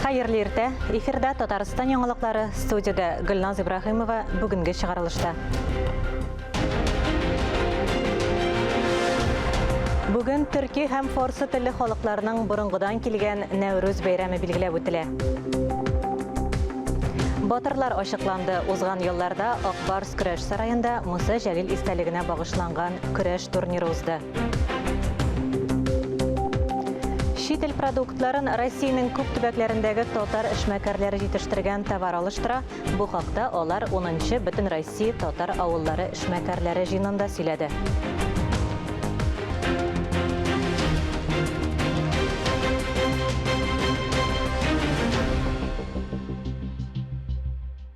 Хәерле иртә! Эфирда Татарстан яңалыклары, студиядә Гөлназ Ибраһимова бүгенге чыгарылышта. Бүген төрки һәм форсы телле халыкларның борынгыдан килгән Нәүрүз бәйрәме билгеләп үтелә. Батырлар ачыкланды. Узган елларда Акбарс көрәш сараенда Муса Җәлил истәлегенә багышланган көрәш турниры узды. Чит ил продуктларын Россиянең күп төбәкләрендәге татар эшмәкәрләре җитештергән товар алыштыра. Бу хакта алар 10-нчы Бөтен Россия татар авыллары эшмәкәрләре җыенында сөйләде.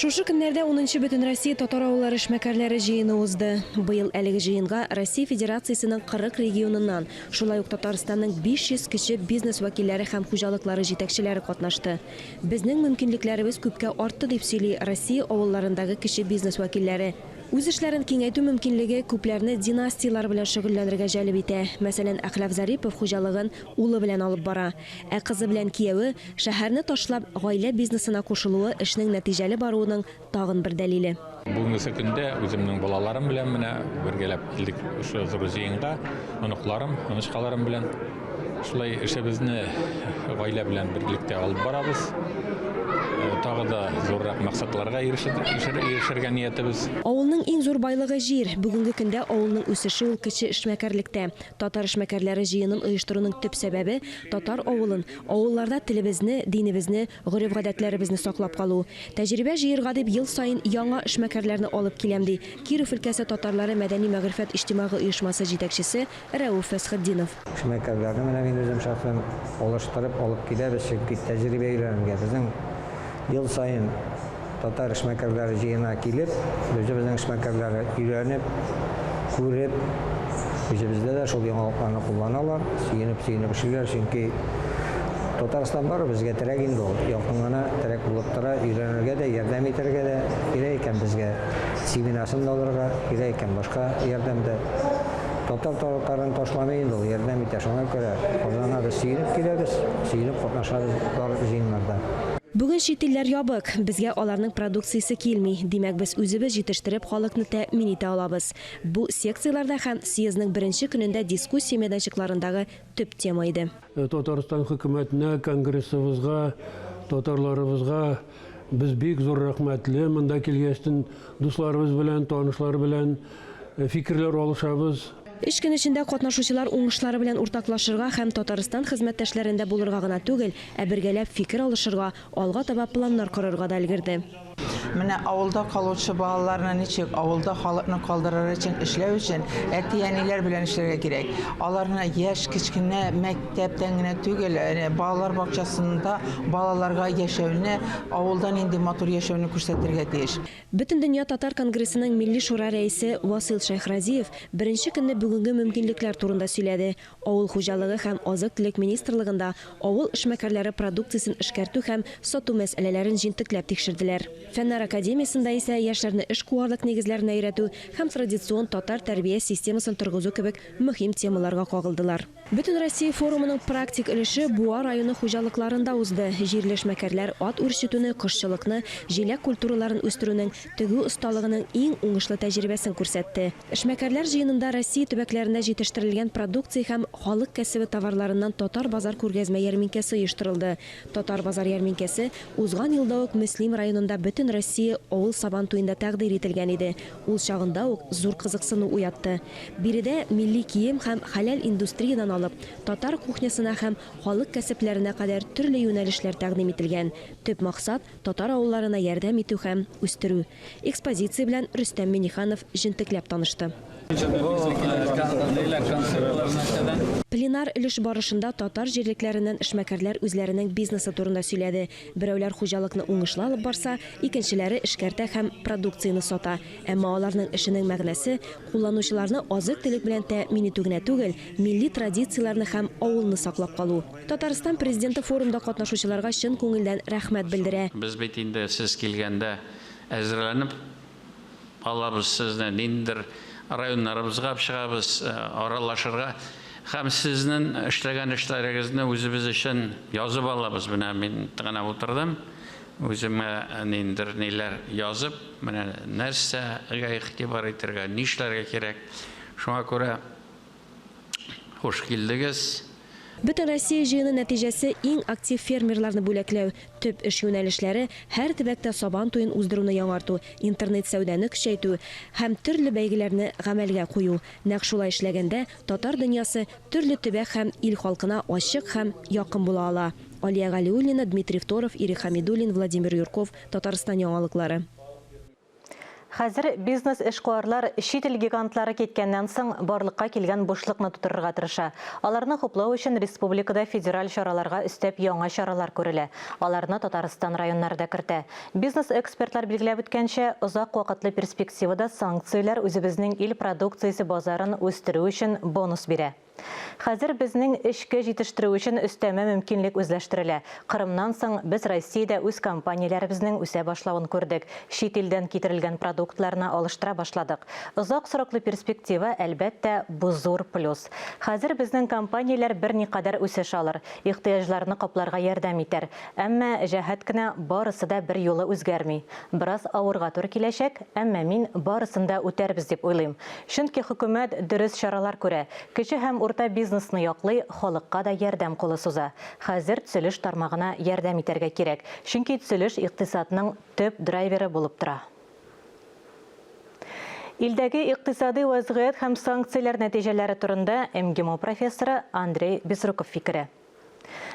Шушы көннәрдә унынчы Бөтенроссия татар авыллары эшмәкәрләре җыены узды. Быел әлеге җыенга Россия Федерациясенең 40 регионыннан, шулай ук Татарстанның 500 кече бизнес вәкилләре һәм хуҗалыклары җитәкчеләре катнашты. Безнең мөмкинлекләребез күпкә артты, дип сөйли Россия авылларындагы кече бизнес вәкилләре. Үз эшләрен киңәйтү мөмкинлеге күпләрне династияләр белән шөгыльләнергә җәлеп итә. Мәсәлән, Әхлаф Зарипов хуҗалыгын Улы белән алып бара. Ә кызы белән кияве, шәһәрне ташлап, гаилә бизнесына кушылуы эшнең нәтиҗәле баруының тагын бер дәлиле. Бүгенгесе көндә үземнең балаларым белән менә бергәләп килдек шушы зур җыенга. Оныкларым, онычкаларым белән шулай эшебезне гаилә белән берлектә алып барабыз. Тагы да зуррак максатларга ирешергә ниятебез. Авылның иң зур байлыгы, җир. Бүгенге көндә авылның үсеше ул кече эшмәкәрлектә. Татар эшмәкәрләре җыенын оештыруның төп сәбәбе, татар авылын, авылларда телебезне, динебезне, гореф-гадәтләребезне саклап калу. Тәҗрибә җыерга дип ел саен яңа эшмәкәрләрне алып киләм, ди Киров өлкәсе татарлары мәдәни-мәгърифәт иҗтимагый оешмасы җитәкчесе Рәүф Фәсхетдинов. Эшмәкәрләрне менә мин үзем шәхсән алыштырып алып киләбез, чөнки тәҗрибә өйрәнергә безнең ел саен, Татар эшмәкәрләре җыена килеп, үзебезнең эшмәкәрләре өйрәнеп, күреп, үзебездә дә шул яңалыкларны кулланалар, сөенеп-сөенеп эшлиләр, чөнки Татарстан бары безгә терәк инде ул, якын гына терәк булып тора, өйрәнергә дә, ярдәм итәргә дә, кирәк икән безгә семенасын да алырга, кирәк икән башка ярдәм дә. Татар татарын ташламый инде ул, ярдәм итә, шуңа күрә Казанга без сөенеп киләбез, сөенеп катнашабыз бар җыеннарда. Бүген чит илләр ябык, безгә аларның продукциясе килми, димәк, без үзебез җитештереп халыкны тәэмин итә алабыз. Бу секцияләрдә һәм съездның беренче көнендә дискуссия мәйданчыкларындагы төп тема иде. Татарстан хөкүмәтенә, конгрессыбызга, татарларыбызга без бик зур рәхмәтле, монда килгәчтен дусларыбыз белән, танышлар белән фикерләр алышабыз. Өч көн эчендә катнашучылар уңышлары белән уртаклашырга һәм Татарстан хезмәттәшләрендә булырга гына түгел, ә бергәләп фикер алышырга, алга таба планнар корырга да өлгерде. Менә авылда калучы балаларны ничек, авылда халыкны калдырыр өчен эшләү өчен әти-әниләр белән эшләргә кирәк. Аларны яшь, кечкенә мәктәптән генә түгел, балалар бакчасында балаларга яшәүне, авылда нинди матур яшәүне күрсәтергә тиеш. Бөтендөнья татар конгрессының Милли шура рәисе Васыйл Шәйхразиев беренче көнне бүгенге мөмкинлекләр турында сөйләде, авыл хуҗалыгы һәм азык-төлек министрлыгында авыл эшмәкәрләре продукциясен эшкәртү һәм сату мәсьәләләрен җентекләп тикшерделәр. Фәннәр академиясендә исә яшьләрне эшкуарлык нигезләренә өйрәтү һәм традицион татар тәрбия системасын торгызу кебек мөһим темаларга кагылдылар. Бөтенроссия форумының практик өлеше Буа районы хуҗалыкларында узды. Җирле эшмәкәрләр ат үрчетүне, кошчылыкны, җиләк культураларын үстерүнең тегү осталыгының иң уңышлы тәҗрибәсен күрсәтте. Эшмәкәрләр җыенында Россия төбәкләрендә җитештерелгән продукция һәм халык кәсебе товарларыннан Татар базар күргәзмә-ярминкәсе оештырылды. Татар базар ярминкәсе узган елда ук Мөслим районында Бөтенроссия авыл Сабантуенда тәкъдир ителгән иде. Ул чагында ук зур кызыксыну уятты. Биредә милли кием һәм хәләл индустриядән алып, татар кухнясына һәм халык кәсепләренә кадәр төрле юнәлешләр тәкъдим ителгән. Төп максат, татар авылларына ярдәм итү һәм үстерү. Экспозиция белән Рөстәм Миңнеханов җентекләп танышты. Пленар өлеш барышында татар җирлекләреннән эшмәкәрләр үзләренең бизнесы турында сөйләде, Берәүләр хуҗалыкны уңышлы алып барса, икенчеләре эшкәртә һәм продукцияне сата. Әмма аларның эшенең мәгънәсе, кулланучыларны азык-төлек белән тәэмин итү генә түгел, милли традицияләрне һәм авылны саклап калу. Татарстан Президенты форумда катнашучыларга чын күңелдән рәхмәт белдерә. Без бит инде сез килгәндә әзерләнеп алабыз сезне, ниндидер районнарыбызга чыгабыз аралашырга һәм сезнең эшләгән эшләрегезне үзебез өчен язып алабыз. Менә мин гына утырдым, үземә ниндидер ниләр язып, менә нәрсәгә игътибар итәргә, нишләргә кирәк. Шуңа күрә Хуш килдегез! Бөтенроссия җыены нәтиҗәсе иң актив фермерларны бүләкләү, төп эш юнәлешләре, һәр төбәктә Сабан туен уздыруны яңарту, интернет-сәүдәне көчәйтү һәм төрле бәйгеләрне гамәлгә кую. Нәкъ шулай эшләгәндә, татар дөньясы төрле төбәк һәм ил халкына ачык һәм якын була ала. Алия Галиуллина, Дмитрий Второв, Ирек Хәмидуллин, Владимир Юрков, Татарстан яңалыклары. Хәзер бизнес-эшкуарлар чит ил гигантлары киткәннән соң барлыкка килгән бушлыкны тутырырга тырыша. Аларны хуплау өчен республикада федераль чараларга өстәп яңа чаралар күрелә. Аларны Татарстан районнары да кертә. Бизнес-экспертлар билгеләп үткәнчә, озак вакытлы перспективада санкцияләр үзебезнең ил продукциясе базарын үстерү өчен бонус бирә. Хәзер безнең эчке җитештерү өчен өстәмә мөмкинлек үзләштерелә. Кырымнан соң, без Россиядә үз компанияләребезнең үсә башлавын күрдек, чит илдән китерелгән продуктларны алыштыра башладык. Озак сроклы перспектива, әлбәттә, бу зур плюс. Хәзер безнең компанияләр берникадәр үсеш алыр, ихтыяҗларны капларга ярдәм итәр. Әмма җәһәт кенә барысы да берьюлы үзгәрми. Бераз авырга туры киләчәк, әмма мин барысын да үтәрбез дип уйлыйм. Чөнки хөкүмәт дөрес чаралар күрә, кече һәм урта бизнесны яклый, халыкка да ярдәм кулы суза. Хәзер төзелеш тармагына ярдәм итәргә кирәк, чөнки төзелеш икътисадның төп драйверы булып тора. Илдәге икътисадый вәзгыять һәм санкцияләр нәтиҗәләре турында МГИМО профессоры Андрей Безруков фикере.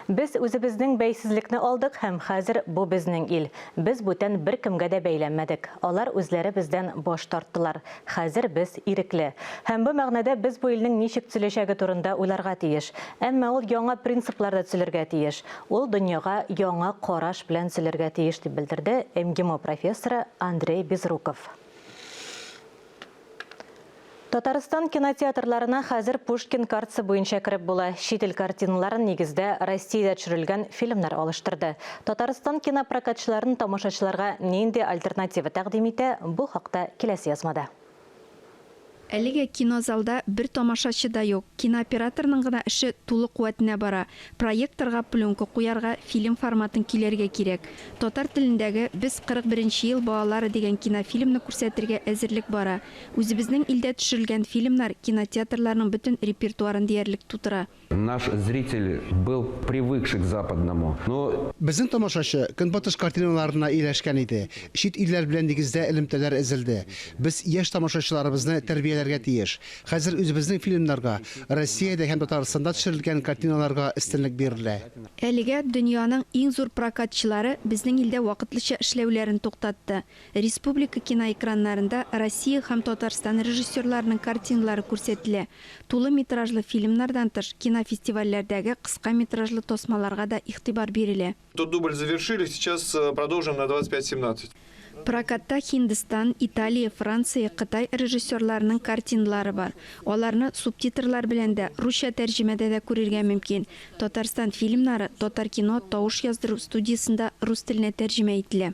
Без үзебезнең бәйсезлекне алдык һәм хәзер бу безнең ил. Без бүтән беркемгә дә бәйләнмәдек. Алар үзләре бездән баш тарттылар. Хәзер без ирекле. Һәм бу мәгънәдә без бу илнең ничек төзеләчәге турында уйларга тиеш. Әмма ул яңа принципларда төзелергә тиеш. Ул дөньяга яңа караш белән төзелергә тиеш, дип белдерде МГИМО профессоры Андрей Безруков. Татарстан кинотеатрларына хәзер Пушкин картасы буенча кереп була. Чит ил картиналарын нигездә Россиядә төшерелгән фильмнар алыштырды. Татарстан кинопрокатчыларын тамашачыларга нинди альтернатива тәкъдим итә, бу хакта киләсе язмада. Әлегә кинозалда бер тамашачы да юк. Кинооператорның гына эше тулы куәтенә бара. Проекторга пленка куярга, фильм форматын киләргә кирәк. Татар телендәге Без 41 нче ел балалары дигән кинофильмны күрсәтергә әзерлек бара. Үзебезнең илдә төшерелгән фильмнар кинотеатрларның бөтен репертуарын диярлек тутыра. Наш зритель был привыкший к западному, но. Безнең тамашачы Көнбатыш картиналарына ияләшкән иде. Чит илләр белән нигездә элемтәләр эзелде. Без яшь тамашачыларыбызны тәрбияләргә тиеш. Хәзер үзебезнең фильмнарга, Россиядә һәм Татарстанда төшерелгән картиналарга өстенлек бирелә. Әлегә дөньяның иң зур прокатчылары безнең илдә вакытлыча эшләүләрен туктатты. Республика киноэкраннарында Россия һәм Татарстан режиссерларының картиналары күрсәтелә. Тулы метражлы фильмнардан тыш, кинофестивальләрдәге кыска метражлы тасмаларга да игътибар бирелә. Тот дубль завершили, сейчас э, продолжим на 25-17. Прокатта Һиндстан, Италия, Франция, Кытай режиссерларының картиналары бар. Аларны субтитрлар белән дә, русча тәрҗемәдә дә күрергә мөмкин. Татарстан фильмнары Татар кино тавыш яздыру студиясендә рус теленә тәрҗемә ителә.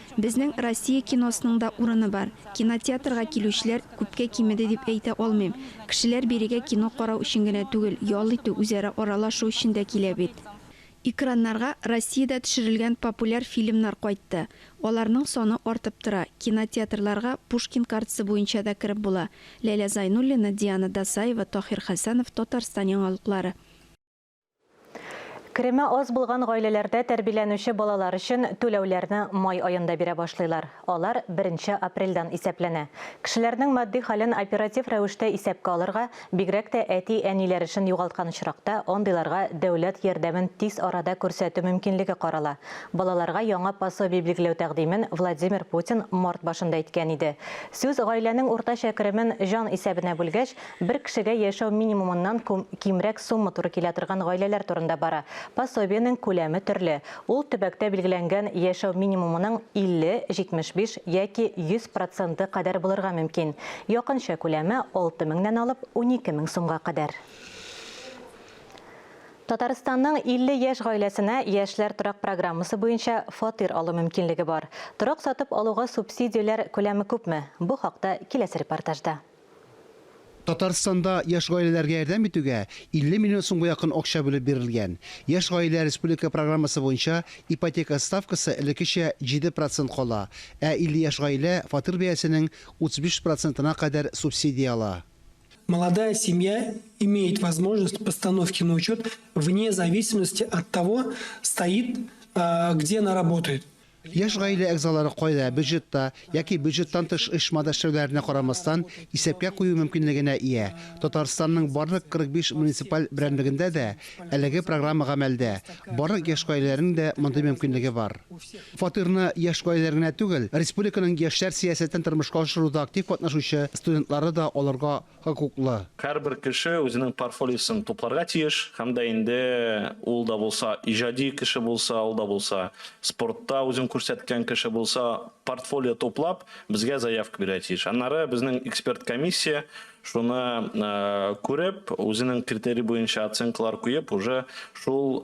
Безнең Россия киносының да урыны бар. Кинотеатрга килүчеләр күпкә кимеде дип әйтә алмыйм. Кешеләр бирегә кино карау өчен генә түгел, ял итү, үзара аралашу өчен дә килә бит. Экраннарга Россиядә төшерелгән популяр фильмнар кайтты. Аларның саны артып тора. Кинотеатрларга Пушкин картасы буенча да кереп була. Ләйлә Зайнуллина, Диана Дасаева, Таһир Хәсәнов, Татарстан яңалыклары. Кереме аз булган гаиләләрдә тәрбиләнүче балалар өчен түләүләрне май аенда бирә башлыйлар. Алар беренче апрельдән исәпләнә. Кешеләрнең матди хәлен оператив рәвештә исәпкә алырга, бигрәк тә әти-әниләр эшен югалткан очракта, андыйларга дәүләт ярдәмен тиз арада күрсәтү мөмкинлеге карала. Балаларга яңа пособие билгеләү тәкъдимен Владимир Путин март башында әйткән иде. Сүз гаиләнең уртача керемен җан исәбенә бүлгәч, Бер кешегә яшәү минимумыннан кимрәк сумма туры килә торган гаиләләр турында бара. Пособиенең күләме төрле. Ул төбәктә билгеләнгән яшәү минимумының 50, 75 яки 100 проценты кадәр булырга мөмкин. Якынча күләме, 6 меңнән алып 12 мең сумга кадәр. Татарстанның 50 яшь гаиләсенә Яшьләр торак программасы буенча фатир алу мөмкинлеге бар. Торак сатып алуга субсидияләр күләме күпме? Бу хакта киләсе репортажда. Татарстанда яшь гаиләләргә ярдәм итүгә 50 миллион сумга якын акча бүлеп бирелгән. Яшь гаилә республика программасы буенча ипотека ставкасы элеккечә 7 процент кала, ә 50 яшь гаилә фатир бәясенең 35 процентына кадәр субсидия ала. Молодая семья имеет возможность постановки на учет вне зависимости от того, стоит где она работает. Яшь гаилә әгъзалары кайда, бюджетта яки бюджеттан тыш оешмада эшләүләренә карамастан, исәпкә кую мөмкинлегенә ия. Татарстанның барлык 45 муниципаль берәмлегендә дә әлеге программа гамәлдә, барлык яшь гаиләләрнең дә мондый мөмкинлеге бар. Фатирны яшь гаиләләр генә түгел, республиканың яшьләр сәясәтен тормышка ашыруда актив катнашучы студентлары да алырга хокуклы. Һәрбер кеше үзенең парфолиосын тупларга тиеш һәм дә инде ул да булса иҗади кеше булса, ул да булса спортта үзен күрсәткән кеше булса, портфолио туплап, безгә заявка бирергә тиеш. Аннары безнең эксперт комиссия шуны күреп, үзенең критерий буенча оценкалар куеп, уже шул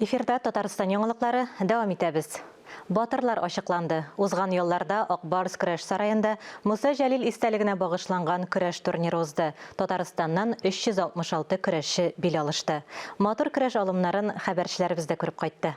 Эфирда Татарстан яңалыклары, дәвам итәбез. Батырлар ачыкланды. Узган ялларда Ак Барс көрәш сараенда Муса Җәлил истәлегенә багышланган көрәш турниры узды. Татарстаннан 366 көрәшче бил алышты. Матур көрәш алымнарын хәбәрчеләребез дә күреп кайтты.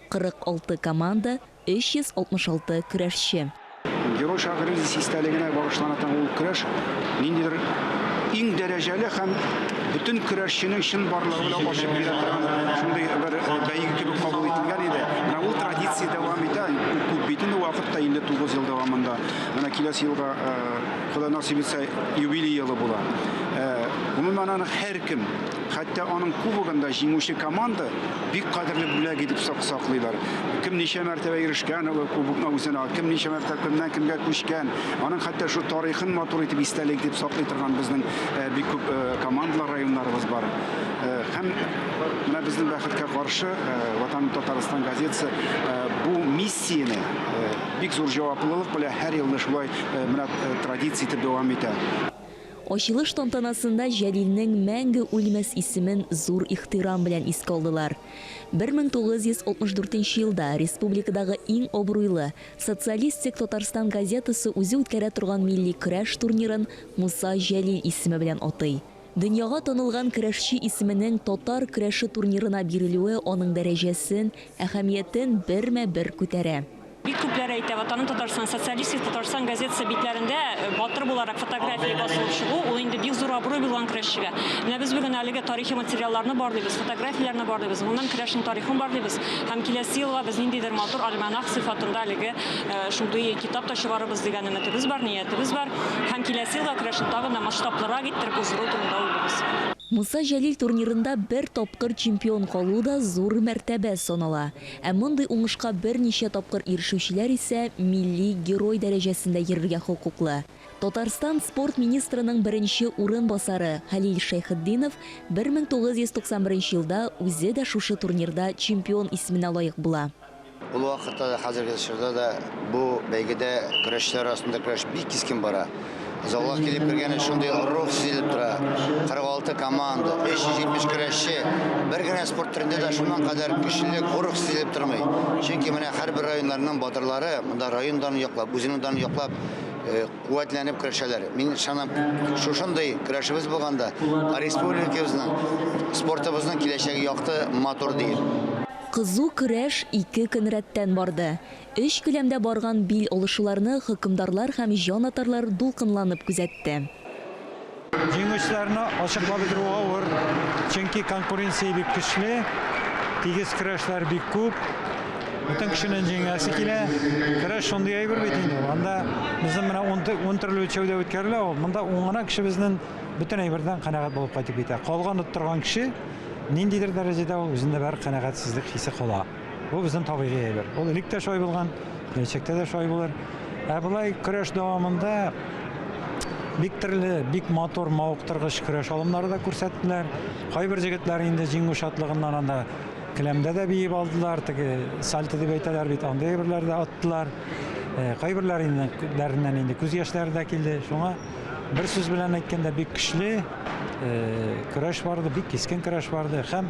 46 команда, 366 көрәшче. Герой Шагыйрь Ризис истәлегенә багышлана торган ул көрәш ниндидер иң дәрәҗәле һәм бөтен көрәшченең чынбарлыгы белән ачып бирә торган шундый бер бәйге кебек кабул ителгән иде. Менә ул традиция дәвам итә, күп бит инде вакыт та, 59 ел дәвамында. Менә киләсе елга, Ходай насыйп итсә, юбилей елы була. Гомумән, аны һәркем, Хәтта аның кубогында җиңүче команда бик кадерле бүләк итеп саклыйлар. Кем ничә мәртәбә ирешкән ул кубокны үзенә, кем ничә мәртәбә кемнән кемгә күчкән, аның хәтта шул тарихын матур итеп истәлек итеп саклый торган безнең э, бик күп э, командалар, районнарыбыз бар. Э, һәм менә безнең бәхеткә каршы Ватан Татарстан газетасы бу миссияне бик зур җаваплылык белән һәр елны шулай менә традиция итеп дәвам итә. Ачылыш тантанасында Җәлилнең мәңге үлмәс исемен зур ихтирам белән искә алдылар. 1964 елда республикадагы иң абруйлы Социалистик Татарстан газетасы үзе үткәрә торган милли көрәш турнирын Муса Җәлил исеме белән атый. Дөньяга танылган көрәшче исеменең татар көрәше турнирына бирелүе аның дәрәҗәсен, әһәмиятен бермә-бер күтәрә. Бик күпләр әйтә, Ватаным Татарстан, Социалистик Татарстан газетасы битләрендә батыр буларак фотография басылып чыгу, ул инде бик зур абруй булган көрәшчегә. Менә без бүген әлеге тарихи материалларны барлыйбыз, фотографияләрне барлыйбыз, гомумән көрәшнең тарихын барлыйбыз һәм киләсе елга без ниндидер матур альманах сыйфатында әлеге шундый китап та чыгарырбыз дигән өметебез бар, ниятебез бар һәм киләсе елга көрәшне тагын да масштаблырак иттереп уздыру турында уйлыйбыз. Муса Җәлил турнирында бер тапкыр чемпион калу да зур мәртәбә санала. Ә мондый уңышка берничә тапкыр ирешүчеләр исә милли герой дәрәҗәсендә йөрергә хокуклы. Татарстан спорт министрының беренче урынбасары Хәлил Шәйхетдинов 1991 елда үзе дә шушы турнирда чемпион исеменә лаек була. Ул вакытта да, хәзерге чорда да бу бәйгедә көрәшчеләр арасында көрәш бик кискен бара. Залга килеп кергәне шундый рух сизелеп тора. 46 команда, 370 көрәшче. Бер генә спорт төрендә дә шуннан кадәр көчлелек, рух сизелеп тормый. Чөнки менә һәрбер районнарның батырлары монда район данын яклап, үзенең данын яклап э, куәтләнеп көрәшәләр. Мин ышанам, шушындый көрәшебез булганда республикабызның спортыбызның киләчәге якты, матур диеп. Кызу көрәш ике көн рәттән барды. Өч келәмдә барган бил алышуларны хөкемдарлар һәм җанатарлар дулкынланып күзәтте. Җиңүчеләрне ачыклап бетерү авыр, чөнки конкуренция бик көчле, тигез көрәшләр бик күп, бөтен кешенең җиңәсе килә. Көрәш шундый әйбер бит инде ул, анда безнең менә ун төрле үлчәүдә үткәрелә ул, монда ун гына кеше безнен бөтен әйбердән канәгать булып кайтып китә. Калган оттырган кеше ниндидер дәрәҗәдә ул үзендә бер канәгатьсезлек хисе кала. Бу безнең табигый әйбер. Ул элек тә шулай булган, киләчәктә дә шулай булыр. Ә болай көрәш дәвамында бик төрле, бик матур, мавыктыргыч көрәш алымнары да күрсәттеләр. Кайбер җегетләр инде җиңү шатлыгыннан анда келәмдә дә биеп алдылар, теге сальто дип әйтәләр бит, андый әйберләр дә аттылар. Э, кайберләр инде дәреннән инде күз яшьләре дә килде. Шуңа бер сүз белән әйткәндә бик көчле э, көрәш барды, бик кискен көрәш барды һәм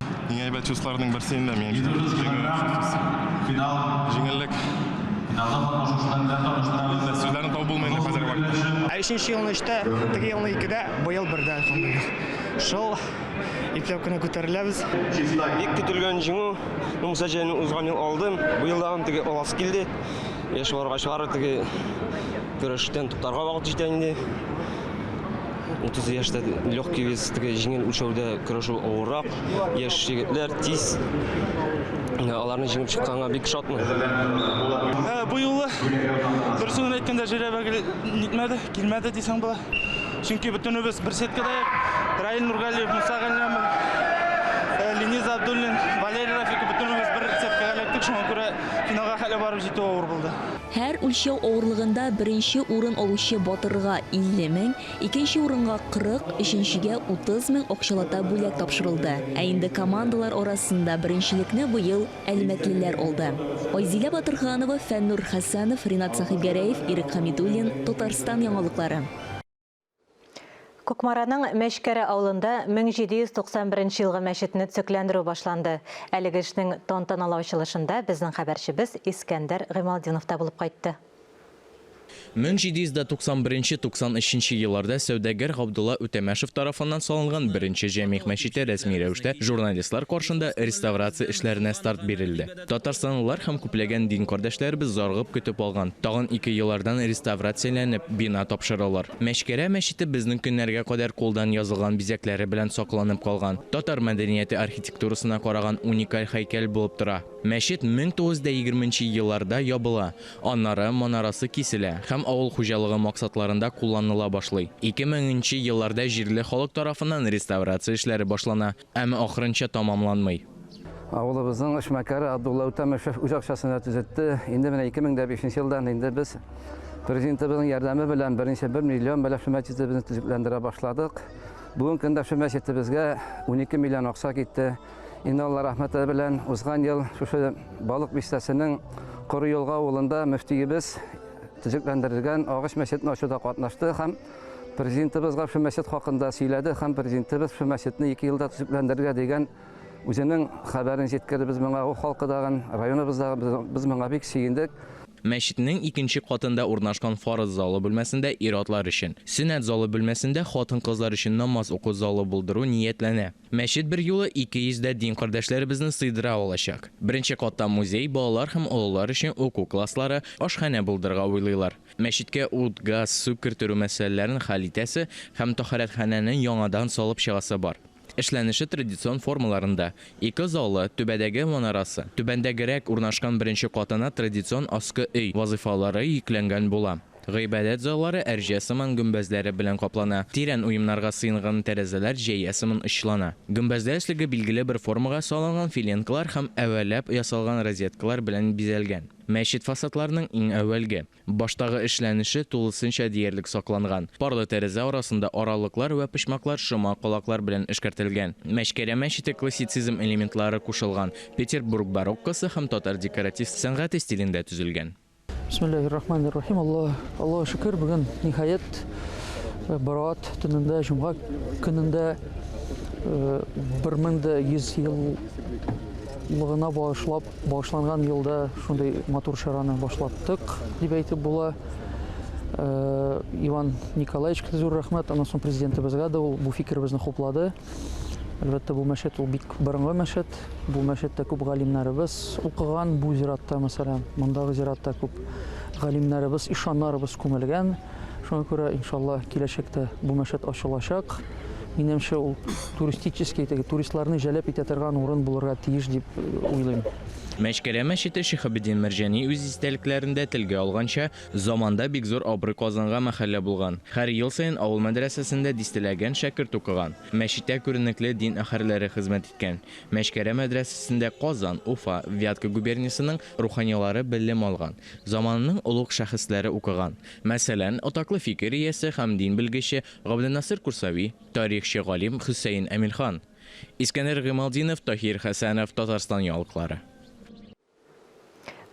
Иң әйбәт чувстволарның берсе инде мин Җиңеллек. Сүзләрне табып булмый инде хәзерге вакытта. Ә өченче елны өчтә, теге елны икедә, быел бердә, альхамдулилла. Шул ипләп кенә күтәреләбез. Бик көтелгән җиңү. Ну, Муса Җәлилне узган ел алдым. Быел да аны теге аласы килде. Яшь варга чыгар, теге көрәштән туктарга вакыт җитә инде. 30 яшьтә легкий вес, теге җиңел үлчәүдә көрәшү авыррак. Яшь егетләр тиз аларны җиңеп чыкканга бик шатмын. Ә, бу юлы дөресен генә әйткәндә Җирәбә нитмәде, килмәде дисәң була. Чөнки бөтенебез бер сеткада ек. Раил Нургалиев, Муса Галләмов, э, Ленис Абдуллин, Валерий Рафиков бөтенебез бер сеткага эләктек, шуңа күрә финалга хәле барып җитү авыр булды. Һәр үлчәү авырлыгында беренче урын алучы батырга, 50 мең, икенче урынга, 40, өченчегә, 30 мең акчалата бүләк тапшырылды. Ә инде командалар арасында беренчелекне быел әлмәтлеләр алды. Айзилә Батырханова, Фәннур Хәсәнов, Ринат Сәхибгәрәев, Ирек Хәмидуллин, Татарстан яңалыклары. Кукмараның Мәчкәрә авылында 1791 елгы мәчетне төзекләндерү башланды. Әлеге эшнең тантаналы ачылышында безнең хәбәрчебез Искәндәр Гыймалтдинов та булып кайтты. 1791-93 елларда сәүдәгәр Габдулла Үтәмәшев тарафыннан салынган беренче җәмигъ мәчете рәсми рәвештә журналистлар каршында реставрация эшләренә старт бирелде. Татарстанлылар һәм күпләгән дин кардәшләребез зарыгып көтеп алган, тагын ике еллардан реставрацияләнеп, бина тапшырылыр. Мәчкәрә мәчете безнең көннәргә кадәр кулдан язылган бизәкләре белән сакланып калган, татар мәдәнияте архитектурасына караган уникаль һәйкәл булып тора. Мәчет 1920 нче елларда ябыла, аннары манарасы киселә һәм авыл хуҗалыгы максатларында кулланыла башлый. 2000 нче елларда җирле халык тарафыннан реставрация эшләре башлана. Әмма ахырынча тамамланмый. Авылыбызның эшмәкәре Абдулла Үтәмешев үз акчасы белән төзетте. Инде менә 2005 нче елдан инде без Президентыбызның ярдәме белән берничә бер миллион белән шул мәчетебезне төзекләндерә башладык. Бүген көндә шул мәчетебезгә унике миллион акча китте. Инде Алла рәхмәте белән узган ел шушы Балык бистәсенең Коры Елга авылында мөфтиебез төзекләндерелгән агач мәчетне ачуда катнашты һәм Президентыбызга шул мәчет хакында сөйләде һәм президентыбыз шул мәчетне ике елда төзекләндерергә дигән үзенең хәбәрен җиткерде. Без моңа Уф халкы дагын, районыбыз да без моңа бик сөендек. Мәчетнең икенче катында урнашкан фарыз залы бүлмәсендә ир-атлар өчен, сөннәт залы бүлмәсендә хатын-кызлар өчен намаз уку залы булдыру ниятләнә. Мәчет берьюлы 200 дә дин кардәшләребезне сыйдыра алачак. Беренче катта музей, балалар һәм олылар өчен уку класслары, ашханә булдырырга уйлыйлар. Мәчеткә ут, газ, су керттерү мәсьәләләрен хәл итәсе һәм тәһарәтханәне яңадан салып чыгасы бар. Эшләнеше традицион формаларында, ике залы, түбәдәге манарасы, түбәндәгерәк урнашкан беренче катына традицион аскы өй вазыйфалары йөкләнгән була. Гыйбадәт заллары әрҗә сыман гөмбәзләре белән каплана, тирән уемнарга сыенган тәрәзәләр җәя сыман очлана. Гөмбәздә өслеге билгеле бер формага салынган филенкалар һәм әвәләп ясалган розеткалар белән бизәлгән. Мәчет фасадларының иң әүвәлге, баштагы эшләнеше тулысынча диярлек сакланган. Парлы тәрәзә арасында аралыклар вә почмаклар шома калаклар белән эшкәртелгән. Мәчкәрә мәчете классицизм элементлары кушылган, Петербург бароккосы һәм татар декоратив сәнгате стилендә төзелгән. Бисмиллахир рахманир рахим. Аллаһ, Аллаһ шөкер, бүген ниһаят Барат төнендә, җомга көнендә 1100 еллыгына багышлап багышланган елда шундый матур чараны башлаттык дип әйтеп була. Иван Николаевичка зур рәхмәт, аннан соң президентыбызга да ул бу фикеребезне хуплады. Әлбәттә, бу мәчет ул бик борынгы мәчет. Бу мәчеттә күп галимнәребез укыган. Бу зиратта, мәсәлән, мондагы зиратта күп галимнәребез, ишаннарыбыз күмелгән. Шуңа күрә, иншалла, киләчәктә бу мәчет ачылачак. Минемчә, ул туристический, теге туристларны җәлеп итә торган урын булырга тиеш дип э, уйлыйм. Мәчкәрә мәчете Шихабеддин Мәрҗани үз истәлекләрендә телгә алганча, Заманда бик зур абруй казанган мәхәллә булган. Хәр ел саен авыл мәдрәсәсендә дистәләгән шәкерт укыган. Мәчеттә күренекле дин әһәрләре хезмәт иткән. Мәчкәрә мәдрәсәсендә Казан, Уфа, Вятка губерниясенең руханилары белем алган, заманының олуг шәхесләре укыган. Мәсәлән, атаклы фикер иясе һәм дин белгече Габденасыр Курсави, тарихчы галим Хөсәен Әмирхан, Искәндәр Гыймалтдинов, Таһир Хәсәнов, Татарстан яңалыклары.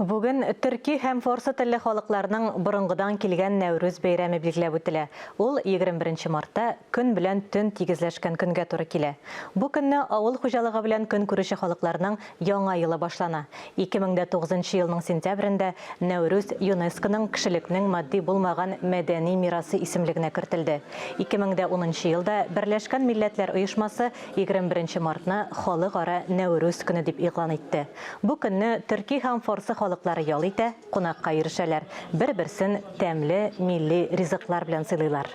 Бүген төрки һәм форсы телле халыкларның борынгыдан килгән Нәүрүз бәйрәме билгеләп үтелә. Ул 21 мартта көн белән төн тигезләшкән көнгә туры килә. Бу көнне авыл хуҗалыгы белән көн күрүче халыкларның яңа елы башлана. 2009 елның сентябрендә Нәүрүз ЮНЕСКОның кешелекнең матди булмаган мәдәни мирасы исемлегенә кертелде. 2010 елда Берләшкән милләтләр оешмасы 21 мартны Халыкара Нәүрүз көне дип игълан итте. Бу көнне төрки һәм форсы халыклары ял итә, кунакка йөрешәләр, бер-берсен тәмле милли ризыклар белән сыйлыйлар.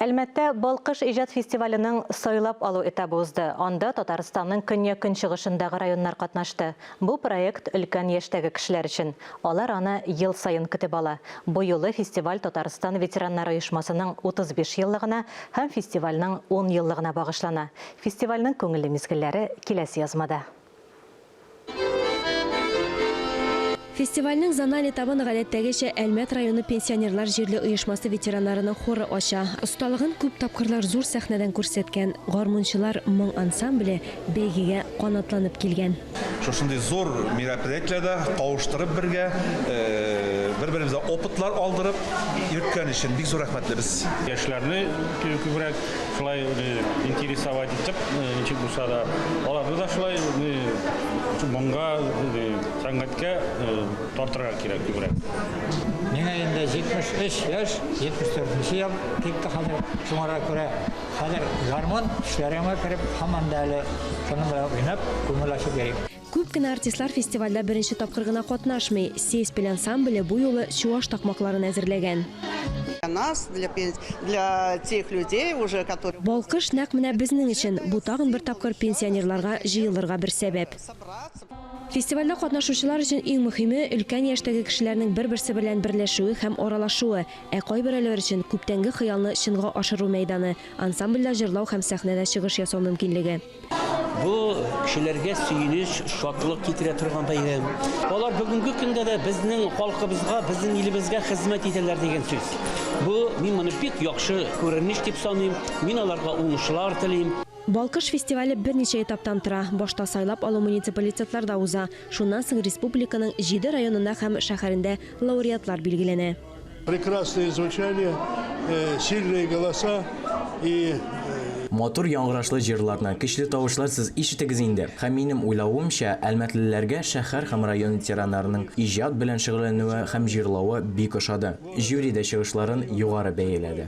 Әлмәттә Балкыш иҗат фестиваленең сайлап алу этабы узды. Анда Татарстанның көньяк-көнчыгышындагы районнар катнашты. Бу проект өлкән яшьтәге кешеләр өчен. Алар аны ел саен көтеп ала. Бу юлы фестиваль Татарстан ветераннары оешмасының 35 еллыгына һәм фестивальнең 10 еллыгына багышлана. Фестивальнең күңелле мизгелләре киләсе язмада. Фестивальнең зональ этабын гадәттәгечә Әлмәт районы пенсионерлар җирле оешмасы ветераннарының хоры ача. Осталыгын күп тапкырлар зур сәхнәдән күрсәткән гармунчылар моң ансамбле бәйгегә канатланып килгән. Шушындый зур мероприятиеләрдә кавыштырып бергә, бер-беребезгә опытлар алдырып йөрткән өчен бик зур рәхмәтлебез. Яшьләрне күбрәк шулай интересовать итеп, ничек булса да, аларны да шулай моңга, сәнгатькә тартырга кирәк күбрәк. Миңа инде 73 яшь, 74 нче ел китте хәзер, шуңарга күрә. Хәзер гармун төшләремә кереп, һаман да әле шуның белән уйнап, күңел ачып йөрим. Күп кенә артистлар фестивальдә беренче тапкыр гына катнашмый. Сеспель ансамбле бу юлы чуаш такмакларын әзерләгән. Балкыш нәкъ менә безнең өчен, бу тагын бер тапкыр пенсионерларга җыелырга бер сәбәп. Фестивальдә катнашучылар өчен иң мөһиме, өлкән яшьтәге кешеләрнең бер-берсе берлән берләшүе һәм аралашуы. Ә кайберәүләр өчен күптәнге хыялны чынга ашыру мәйданы, ансамбльдә җырлау һәм сәхнәдә чыгыш ясау мөмкинлеге. Бу, кешеләргә сөенеч, шатлык китерә торган бәйрәм. Алар бүгенге көндә дә безнең халкыбызга, безнең илебезгә хезмәт итәләр дигән сүз. Бу, мин моны бик яхшы күренеш дип саныйм. Мин аларга уңышлар телим. Балкыш фестивале берничә этаптан тора. Башта сайлап алу муниципалитетларда уза. Шуннан соң республиканың җиде районында һәм шәһәрендә лауреатлар билгеләнә. Прекрасное звучание, э, сильные голоса и Матур яңгырашлы җырларны, көчле тавышлар сез ишетегез инде. Һәм минем уйлавымча, әлмәтлеләргә шәһәр һәм район ветераннарының иҗат белән шөгыльләнүе һәм җырлавы бик ошады. Жюри дә чыгышларын югары бәяләде.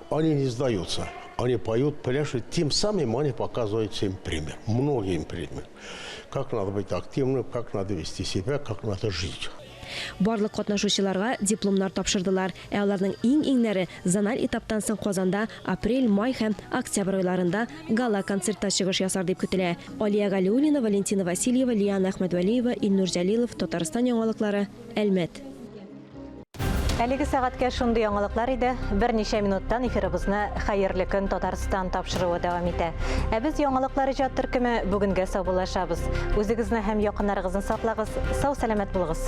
Они не сдаются, они поют, пляшут, тем самым они показывают всем пример, многим пример. Как надо быть активным, как надо вести себя, как надо жить. Барлык катнашучыларга дипломнар тапшырдылар, ә аларның иң-иңнәре зональ этаптан соң Казанда апрель, май һәм октябрь айларында гала-концертта чыгыш ясар дип көтелә. Алия Галиуллина, Валентина Васильева, Лиана Әхмәдвәлиева, Илнур Җәлилов, Татарстан яңалыклары, Әлмәт. Әлеге сәгатькә шундый яңалыклар иде. Берничә минуттан эфирыбызны Хәерле көн Татарстан тапшыруы дәвам итә. Ә без яңалыклар иҗат төркеме бүгенгә саубуллашабыз. Үзегезне һәм якыннарыгызны саклагыз, сау-сәламәт булыгыз.